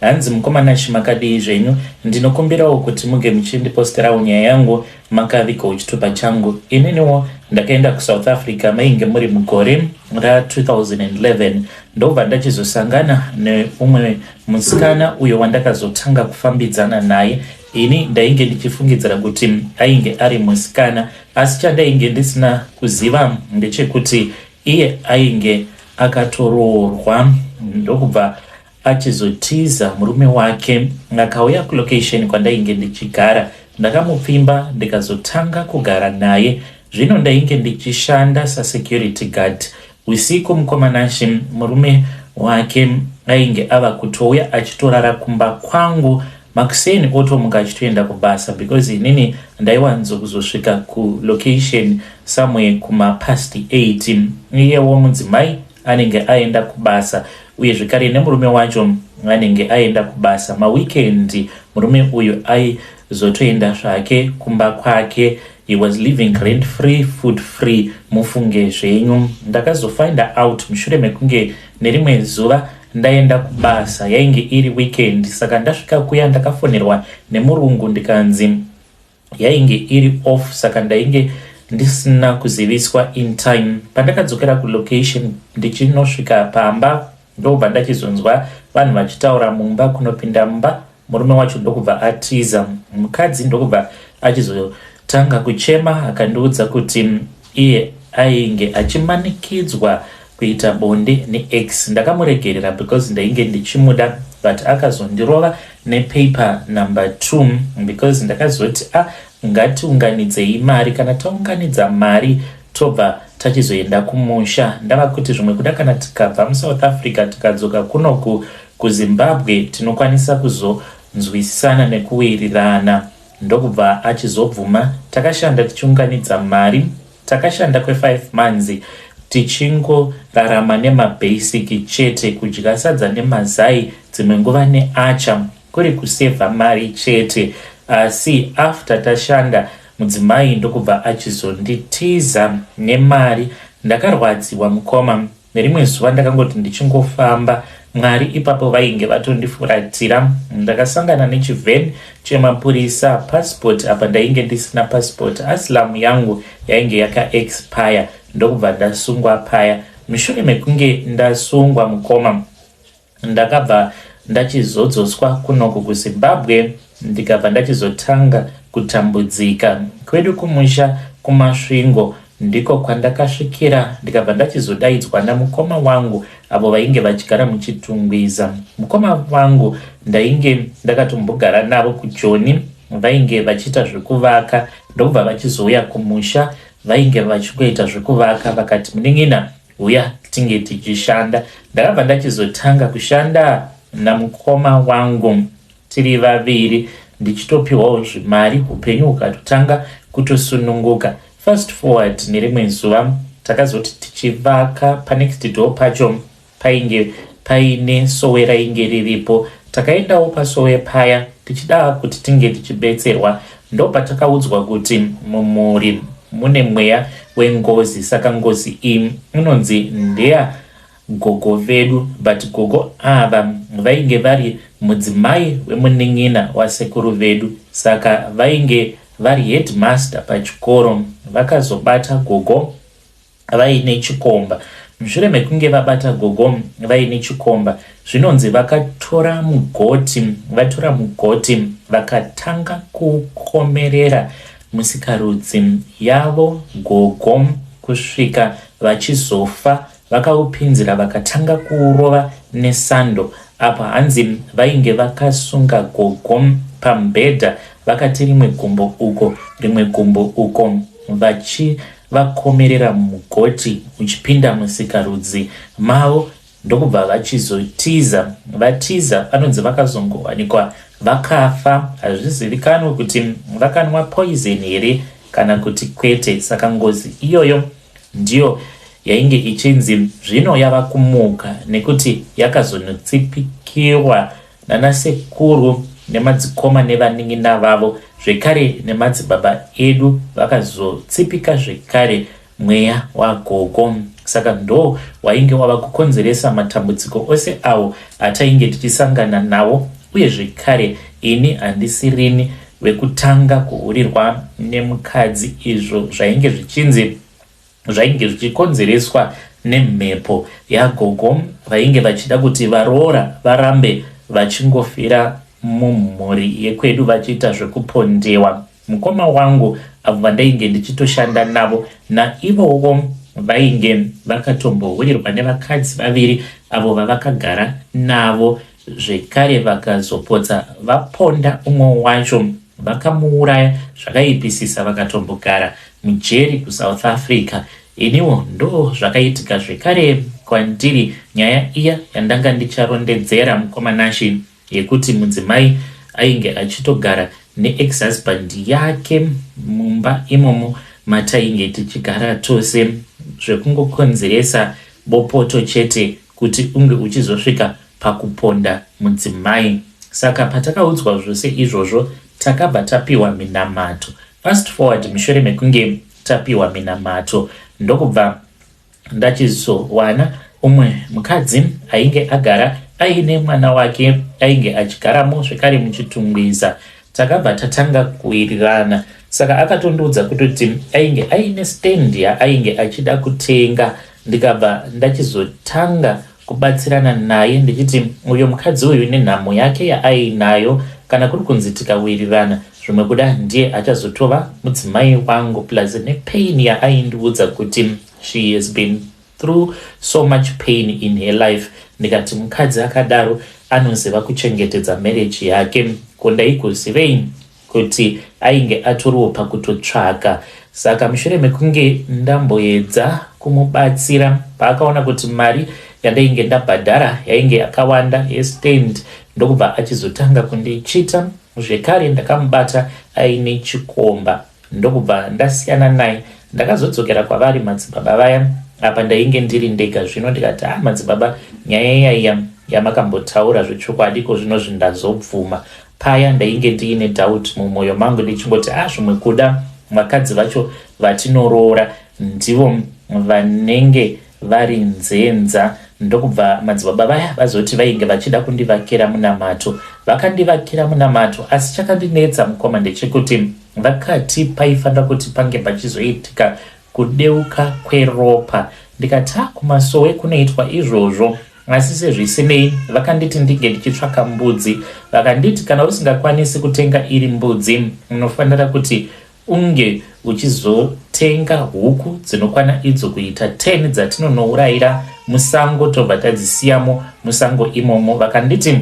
Hanzi mukoma Nash makadii zvenyu ndinokumbirawo kuti muge muchindiposterawo nyaya yangu makaviga uchitupa changu ininiwo ndakaenda kuSouth Africa mainge muri mugore ra 2011 ndobva ndachizosangana neumwe musikana uyo wandakazotanga kufambidzana naye ini ndainge ndichifungidzira kuti ainge ari musikana asi chandainge ndisina kuziva ndechekuti iye ainge akatoroorwa ndokubva Achizotiza murume wake akauya kulocation kwandainge ndichigara ndakamupfimba ndikazotanga kugara naye zvino ndainge ndichishanda sasecurity guard usiku mukomanashe murume wake ainge ava kutouya achitorara kumba kwangu makuseni otomuka achitoenda kubasa because inini ndaiwanzo kuzosvika kulocation somewhere kumapast 8 iyewo mudzimai anenge aenda kubasa uye zvekare nemurume wacho anenge aenda kubasa maweekend murume uyu aizotoenda zvake kumba kwake he was living rent free food free mufunge zvenyu ndakazofinder out mushure mekunge nerimwe zuva ndaenda kubasa yainge iri weekend saka ndasvika kuya ndakafonerwa nemurungu ndikanzi yainge iri off saka ndainge ndisina kuziviswa in time pandakadzokera kulocation ndichinosvika pamba ndobva ndachizonzwa vanhu vachitaura mumba kunopinda mumba murume wacho ndokubva atiza mukadzi ndokubva achizotanga kuchema akandiudza kuti Iye ainge achimanikidzwa kuita bonde neex ndakamuregerera because ndainge ndichimuda but akazondirova nepaper number two because ndakazoti a ah, ngatiunganidzei mari kana taunganidza mari tobva tachizoenda kumusha ndava kuti zvimwe kuda kana tikabva musouth africa tikadzoka kunoku kuzimbabwe tinokwanisa kuzonzwisisana nekuwirirana Ndokubva achizobvuma. Takashanda tichiunganidza mari. Takashanda kwe five months tichingorarama nema basic chete, kudya sadza nemazai dzimwe nguva ne acha kuri kusaver mari chete. Asi after tashanda mudzimai ndokubva achizonditiza nemari. Ndakarwadziwa mukoma. Nerimwe zuva ndakangoti ndichingofamba Mwari ipapo vainge vatondifuratira. Ndakasangana nechiven chemapurisa passport apa ndainge ndisina passport aslam yangu yainge yaka expire ndokubva ndasungwa paya. Mushure mekunge ndasungwa mukoma Ndakabva ndachizodzoswa kunoku kuZimbabwe ndikabva ndachizotanga kutambudzika. Kwedu kumusha kuMasvingo ndiko kwandakasvikira ndikabva ndachizodaidzwa namukoma wangu avo vainge vachigara muChitungwiza. Mukoma vangu ndainge ndakatombogara navo kuJoni vainge vachiita zvekuvaka ndokubva vachizouya kumusha vainge vachingoita zvekuvaka vakati munin'ina Huya tinge tichishanda. Ndakabva ndachizotanga kushanda namukoma wangu tiri vaviri ndichitopiwawo zvimari upenyu hukatotanga kutosununguka. Fast forward nerimwe zuva takazoti tichivaka panext door pacho painge paine sowe rainge riripo. Takaendawo pasowe paya tichida kuti tinge tichibetserwa Ndopatakaudzwa kuti mumhuri mune mweya wengozi saka ngozi iyi inonzi ndeya gogo vedu but gogo ava vainge vari mudzimai wemunin'ina wasekuru vedu saka vainge vari headmaster pachikoro vakazobata gogo vaine chikomba. Mushure mekunge vabata gogo vaine chikomba, zvinonzi vakatora mugoti vatora mugoti vakatanga kukomerera musikarudzi yavo gogo kusvika vachizofa. Vakaupinzira vakatanga kuurova nesando apa hanzi vainge vakasunga gogo pamubhedha vakati rimwe gumbo uko rimwe gumbo uko vachi vakomerera mugoti uchipinda musikarudzi mavo ndokubva vachizotiza. Vatiza vanonzi vakazongowanikwa vakafa. Hazvizivikanwe kuti vakanwa poison here kana kuti kwete, saka ngozi iyoyo ndiyo yainge ichinzi zvino yava kumuka nekuti yakazonotsipikirwa Nana sekuru nemadzikoma nevanin'ina vavo zvekare nemadzibaba edu vakazotsipika zvekare mweya wagogo saka ndo wainge wava kukonzeresa matambudziko ose awo atainge tichisangana nawo uye zvekare ini handisirini vekutanga kuhurirwa nemukadzi izvo zvainge zvichinzi zvainge zvichikonzereswa nemhepo yagogo vainge vachida kuti varoora varambe vachingofira mumhuri yekwedu vachiita zvekupondewa mukoma wangu avo vandainge ndichitoshanda navo naivowo vainge vakatombohwirwa nevakadzi vaviri avo vavakagara navo Zvekare vakazopotsa vaponda umwe wacho vakamuuraya zvakaipisisa vakatombogara mujeri kuSouth Africa. Iniwo ndoo zvakaitika zvekare kwandiri nyaya iya yandanga ndicharondedzera mukoma Nashy yekuti mudzimai ainge achitogara neex husband yake mumba imomo matainge tichigara tose zvekungokonzeresa bopoto chete kuti unge uchizosvika pakuponda mudzimai. Saka patakaudzwa zvose izvozvo takabva tapiwa minamato. Fast forward mushure mekunge tapiwa minamato ndokubva ndachizowana umwe mukadzi ainge agara aine mwana wake ainge achigaramo zvekare muchitungwiza. Takabva tatanga kuwirirana saka akatondiudza kutoti ainge aine stand yaainge achida kutenga ndikabva ndachizotanga kubatsirana naye ndichiti uyo mukadzi uyu nenhamo yake yaainayo kana kuri kunzi tikawirirana zvimwe kuda ndiye achazotova mudzimai wangu plus nepain yaaindiudza kuti she has been through so much pain in her life ndikati mukadzi akadaro anoziva kuchengetedza marriage yake ko ndaigozivei kuti ainge atoriwo pakutotsvaka saka mushure mekunge ndamboedza kumubatsira paakaona kuti mari yandainge ndabhadhara yainge yakawanda yestand ndokubva achizotanga kundichita zvekare ndakamubata aine chikomba Ndokubva ndasiyana naye ndakazodzokera kwavari madzibaba vaya apa ndainge ndiri ndega zvino ndikati ah madzibaba nyaya yaiya yamakambotaura zvechokwadi ko zvino zvindazobvuma paya ndainge ndiine doubt mumwoyo mangu ndichingoti ah zvimwe kuda vakadzi vacho vatinoroora ndivo vanenge vari nzenza ndokubva madzibaba vaya vazoti vainge vachida kundivakira munamato vakandivakira munamato asi chakandinetsa mukoma ndechekuti Vakati paifanira kuti pange pachizoitika kudeuka kweropa ndikati ha kumasowe kunoitwa izvozvo asi sezvisinei vakanditi ndinge ndichitsvaka mbudzi vakanditi kana usingakwanisi kutenga iri mbudzi unofanira kuti unge uchizotenga huku dzinokwana idzo kuita 10 dzatinonourayira musango tobva tadzisiyamo musango imomo vakanditi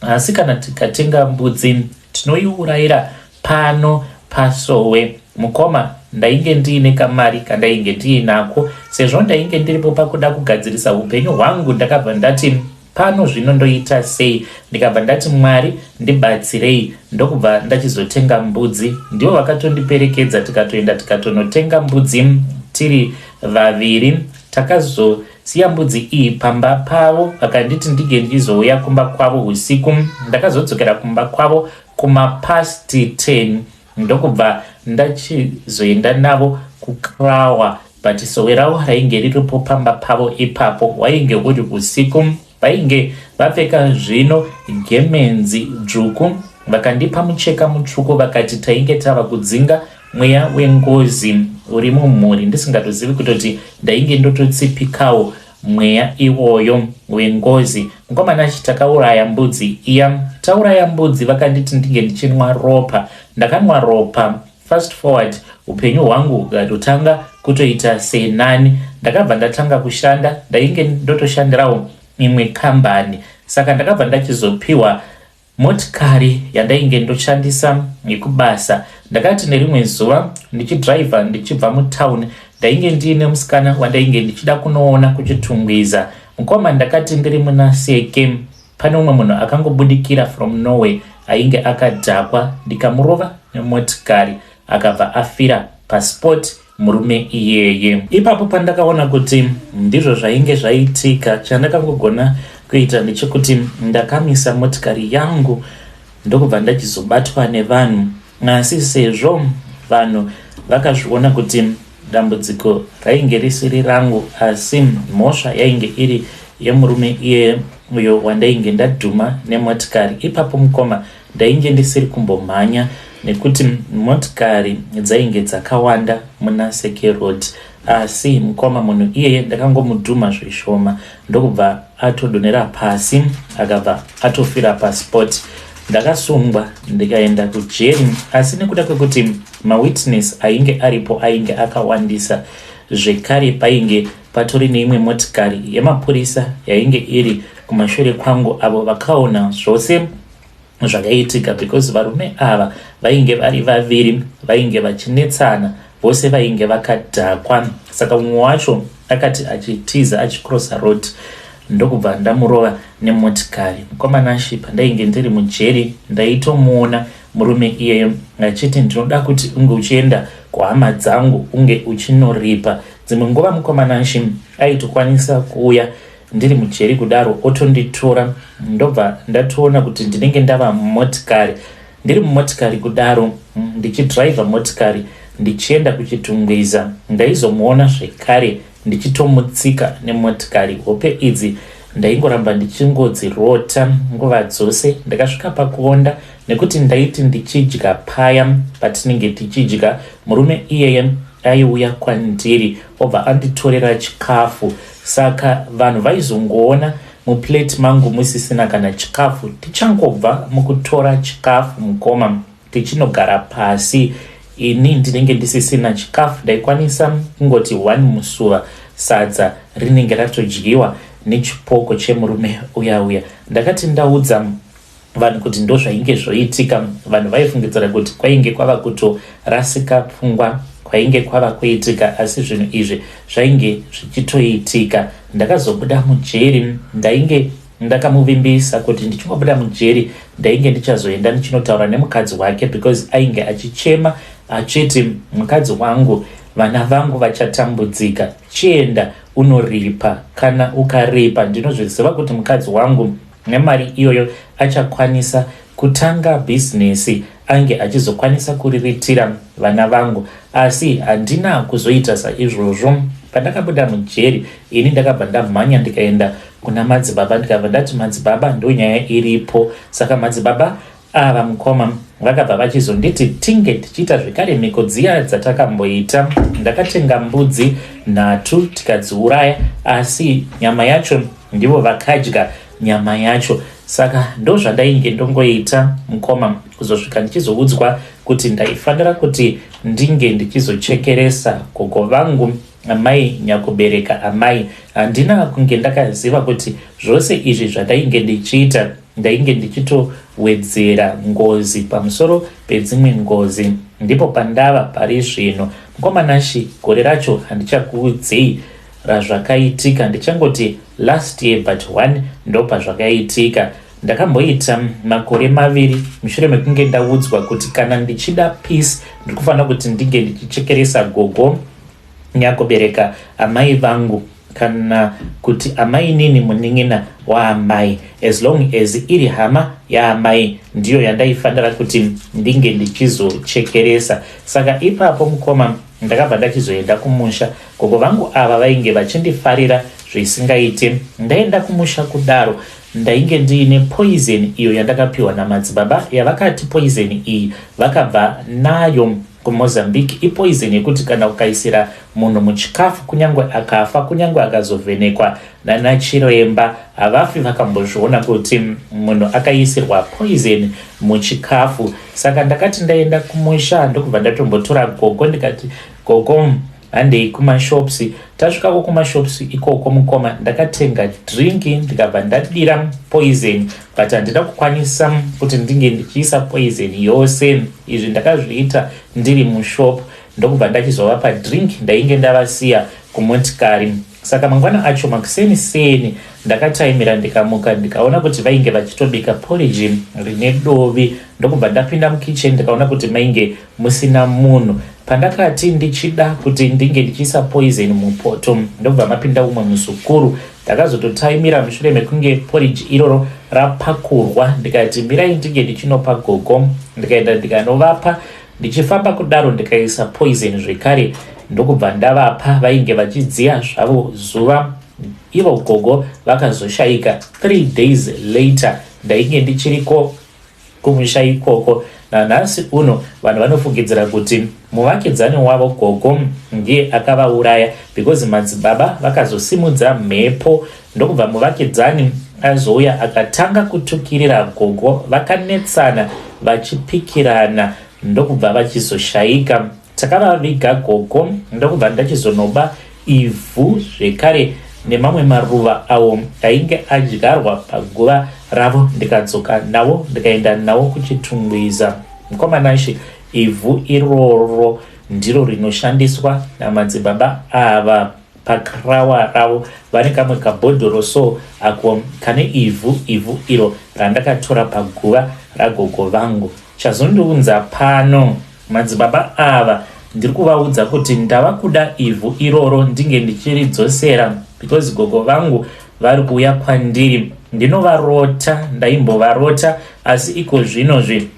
Asi kana tikatenga mbudzi tinoiurayira pano pasowe. Mukoma, ndainge ndiine kamari kandainge ndiinako. Sezvo ndainge ndiripo pakuda kugadzirisa upenyu hwangu ndakabva ndati pano zvino ndoita sei ndikabva ndati mwari ndibatsirei ndokubva ndachizotenga mbudzi ndivo vakatondiperekedza tikatoenda tikatonotenga mbudzi tiri vaviri takazo Siya mbudzi iyi pamba pavo. Vakanditi ndinge ndichizouya kumba kwavo husiku. Ndakazodzokera kumba kwavo kumapast 10 ndokubva ndachizoenda navo kukrawa but sowe ravo rainge riripo pamba pavo ipapo. Wainge uri husiku. Vainge vapfeka zvino gemenzi dzvuku vakandipa mucheka mutsvuku vakati tainge tava kudzinga mweya wengozi uri mumhuri ndisingatozivi kutoti ndainge ndototsipikawo mweya iwoyo wengozi mukomana achiti takauraya mbudzi iya tauraya mbudzi vakanditi ndinge ndichinwa ropa ndakanwa ropa Fast forward upenyu hwangu hukatotanga kutoita senani. Ndakabva ndatanga kushanda, ndainge ndotoshandirawo imwe kambani. Saka ndakabva ndachizopiwa motikari yandainge ndoshandisa yekubasa. Ndakati nerimwe zuva ndichidriver ndichibva mutown, ndainge ndiine musikana wandainge ndichida kunoona kuchitungwiza. Mukoma ndakati ndiri muna seke Pane umwe munhu akangobudikira from Norway ainge akadhakwa ndikamurova nemotikari akabva afira pasport murume iyeye. Ipapo pandakaona kuti ndizvo zvainge zvaitika, chandakangogona kuita ndechekuti ndakamisa motikari yangu ndokubva ndachizobatwa nevanhu, asi sezvo vanhu vakazviona kuti Dambudziko rainge risiri rangu asi mhosva yainge iri yemurume iye uyo wandainge ndadhuma nemotikari. Ipapo mukoma ndainge ndisiri kumbomhanya nekuti motikari dzainge dzakawanda muna Seke Road asi mukoma munhu iyeye ndakangomudhuma zvishoma ndokubva atodonera pasi akabva atofira paspot ndakasungwa ndikaenda kujeri asi nekuda kwekuti mawitness ainge aripo ainge akawandisa zvekare painge patori neimwe motikari yemapurisa yainge iri kumashure kwangu avo vakaona zvose zvakaitika because varume ava vainge vari vaviri vainge vachinetsana vose vainge vakadhakwa saka umwe wacho akati achitiza achikrosa road ndokubva ndamurova nemotikari mukomana shi pandainge ndiri mujeri ndaitomuona murume iyeyo achiti ndinoda kuti unge uchienda kuhama dzangu unge uchinoripa dzimwe nguva mukomana shi aitokwanisa kuuya ndiri mujeri kudaro otonditora ndobva ndatoona kuti ndinenge ndava mumotikari ndiri mumotikari kudaro mm, ndichidriver motikari ndichienda kuchitungwiza ndaizomuona zvekare ndichitomutsika nemotikari hope idzi ndaingoramba ndichingodzirota nguva dzose ndakasvika pakuonda nekuti ndaiti ndichidya paya patinenge tichidya murume iyeye aiuya kwandiri obva anditorera chikafu Saka vanhu vaizongoona muplate mangu musisina kana chikafu. Tichangobva mukutora chikafu mukoma tichinogara pasi ini ndinenge ndisisina chikafu ndaikwanisa kungoti one musuva sadza rinenge ratodyiwa nechipoko chemurume uya uya ndakati ndaudza vanhu kuti ndozvainge zvoitika vanhu vaifungidzira kuti kwainge kwava kutorasika pfungwa kwainge kwava kuitika asi zvinhu izvi zvainge zvichitoitika ndakazobuda mujeri ndainge ndakamuvimbisa kuti ndichingobuda mujeri ndainge ndichazoenda ndichinotaura nemukadzi wake because ainge achichema achiti mukadzi wangu vana vangu vachatambudzika chienda unoripa kana ukaripa ndinozviziva kuti mukadzi wangu Nemari iyoyo achakwanisa kutanga bhizinesi ange achizokwanisa kuriritira vana vangu asi handina kuzoita saizvozvo. Pandakabuda mujeri ini ndakabva ndamhanya ndikaenda kuna madzibaba ndikabva ndati madzibaba ndonyaya iripo saka madzibaba Ava mukoma vakabva vachizonditi tinge tichiita zvekare mhiko dziya dzatakamboita. Ndakatenga mbudzi nhatu tikadziuraya asi nyama yacho ndivo vakadya nyama yacho saka ndozvandainge ndongoita mukoma kuzosvika ndichizoudzwa kuti ndaifanira kuti ndinge ndichizochekeresa gogo vangu amai nyakubereka amai handina kunge ndakaziva kuti zvose izvi zvandainge ndichiita Ndainge ndichitowedzera ngozi pamusoro pedzimwe ngozi. Ndipo pandava pari zvino. Mkoma Nashy, gore racho handichakuudzei razvakaitika, ndichangoti last year but one ndopazvakaitika. Ndakamboita makore maviri mushure mekunge ndaudzwa kuti kana ndichida peace ndiri kufanira kuti ndinge ndichichekeresa gogo Nyakubereka amai vangu kana kuti amainini munin'ina waamai as long as iri hama yaamai ndiyo yandaifanira kuti ndinge ndichizochekeresa saka ipapo mukoma ndakabva ndachizoenda kumusha gogo vangu ava vainge vachindifarira zvisingaite ndaenda kumusha kudaro ndainge ndiine poison iyo yandakapiwa namadzibaba yavakati poison iyi vakabva nayo KuMozambique ipoison yekuti kana ukaisira munhu muchikafu kunyangwe akafa kunyangwe akazovhenekwa nanachiremba havafi vakambozviona kuti munhu akaisirwa poison muchikafu saka ndakati ndaenda kumusha ndokubva ndatombotora gogo ndikati gogo Handei kumashops. Tasvikako kumashops ikoko mukoma ndakatenga drink ndikabva ndadira poison but handina kukwanisa kuti ndinge ndichiisa poison yose. Izvi ndakazviita ndiri mushop ndokubva ndachizovapa drink ndainge ndavasiya kumotikari. Saka mangwana acho makuseni seni ndakataimira ndikamuka ndikaona kuti vainge vachitobika porridge rine dovi ndokubva ndapinda mukitchen ndikaona kuti mainge musina munhu. Pandakati ndichida kuti ndinge ndichiisa poison mupoto ndobva mapinda umwe muzukuru. Ndakazototaimira mushure mekunge porridge iroro rapakurwa ndikati mirai ndinge ndichinopa gogo ndikaenda ndikanovapa. Ndichifamba kudaro ndikaisa poison zvekare ndokubva ndavapa vainge vachidziya zvavo zuva ivo gogo vakazoshaika. Three days later ndainge ndichiriko Kumusha ikoko nanhasi uno vanhu vanofungidzira kuti muvakidzani wavo gogo ndiye akavauraya because madzibaba vakazosimudza mhepo ndokubva muvakidzani azouya akatanga kutukirira gogo vakanetsana vachipikirana ndokubva vachizoshaika Takavaviga gogo ndokubva ndachizonoba ivhu zvekare nemamwe maruva awo ainge adyarwa paguva ravo ndikadzoka nawo ndikaenda nawo kuchitungwiza mukoma nashe ivhu iroro ndiro rinoshandiswa namadzibaba ava pakrawa ravo vane kamwe kabhodhoro so ako kane ivhu ivhu iro randakatora paguva ragogo vangu chazondiunza pano Madzibaba ava ndiri kuvaudza kuti ndava kuda ivhu iroro ndinge ndichiridzosera because gogo vangu vari kuuya kwandiri ndinovarota ndaimbovarota asi iko zvinozvi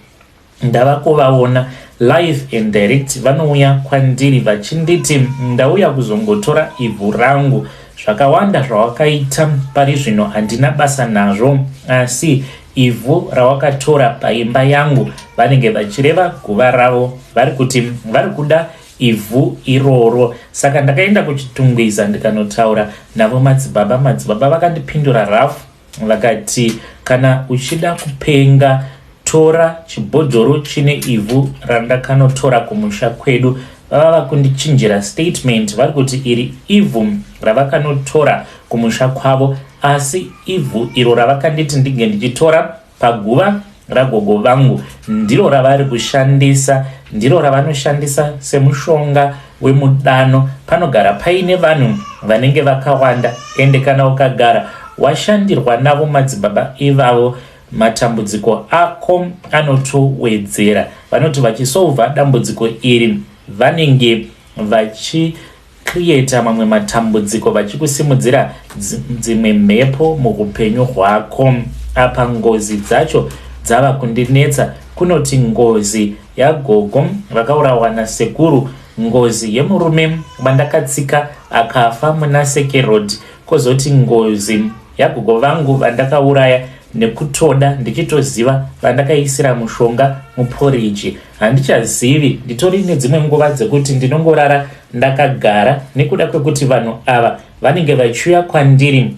ndava kuvaona live and direct vanouya kwandiri vachinditi ndauya kuzongotora ivhu rangu Zvakawanda zvawakaita pari zvino handina basa nazvo, asi ivhu rawakatora paimba yangu, vanenge vachireva guva ravo, vari kuti vari kuda ivhu iroro. Saka ndakaenda kuChitungwiza ndikanotaura navo madzibaba. Madzibaba vakandipindura rafu. Vakati, Kana uchida kupenga, tora chibhodhoro chine ivhu randakanotora kumusha kwedu. Vava vakundichinjira statement vari kuti iri ivhu ravakanotora kumusha kwavo asi ivhu iro ravakanditi ndinge ndichitora Paguva ragogo vangu ndiro ravari kushandisa ndiro ravanoshandisa semushonga wemudano panogara paine vanhu vanenge vakawanda ende kana ukagara washandirwa navo madzibaba ivavo matambudziko ako anotowedzera vanoti vachisovha dambudziko iri vanenge vachi creator mamwe matambudziko vachikusimudzira dzimwe mhepo muhupenyu hwako apa ngozi dzacho dzava kundinetsa kunoti ngozi yagogo vakaurawa nasekuru ngozi yemurume vandakatsika akafa muna sekerod kozoti ngozi yagogo vangu vandakauraya nekutoda ndichitoziva vandakaisira mushonga muporiji Handichazivi, nditori nedzimwe nguva dzekuti ndinongorara ndakagara nekuda kwekuti vanhu ava vanenge vachiuya kwandiri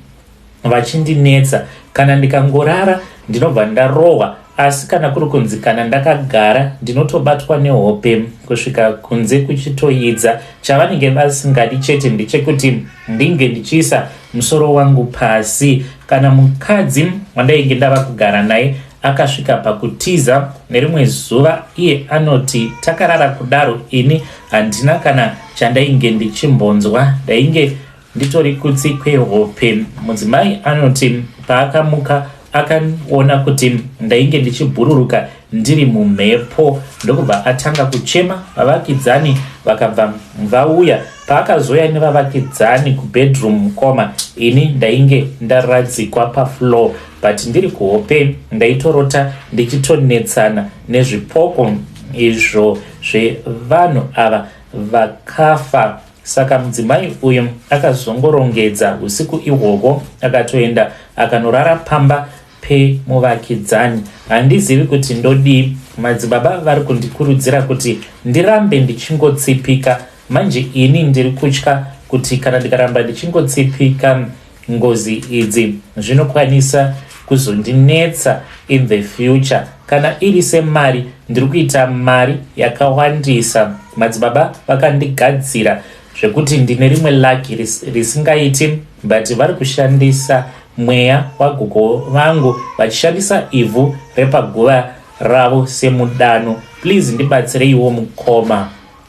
vachindinetsa. Kana ndikangorara ndinobva ndarohwa asi kana kuri kunzi kana ndakagara ndinotobatwa nehope kusvika kunze kuchitoyidza. Chavanenge vasingadi chete ndechekuti ndinge ndichiisa musoro wangu pasi. Kana mukadzi wandainge ndava kugara naye Akasvika pakutiza nerimwe zuva iye anoti takarara kudaro ini handina kana chandainge ndichimbonzwa ndainge nditori kutsi kwehope. Mudzimai anoti paakamuka akaona kuti ndainge ndichibhururuka ndiri mumhepo ndokubva atanga kuchema vavakidzani vakabva vauya paakazoya nevavakidzani kubedroom mukoma ini ndainge ndaradzikwa pafloor but ndiri kuhope ndaitorota ndichitonetsana nezvipoko izvo zvevanhu ava vakafa saka mudzimai uyu akazongorongedza usiku ihwohwo akatoenda akanorara pamba pemuvakidzani handizivi kuti ndodii madzibaba vari kundikurudzira kuti ndirambe ndichingotsipika manje ini ndiri kutya kuti kana ndikaramba ndichingotsipika Ngozi idzi zvinokwanisa kuzondinetsa in the future kana iri semari ndiri kuita mari yakawandisa madzibaba vakandigadzira zvekuti ndine rimwe laki risingaiti ris but vari kushandisa mweya wagogo vangu vachishandisa ivhu repaguva ravo semudano please ndibatsireiwo mukoma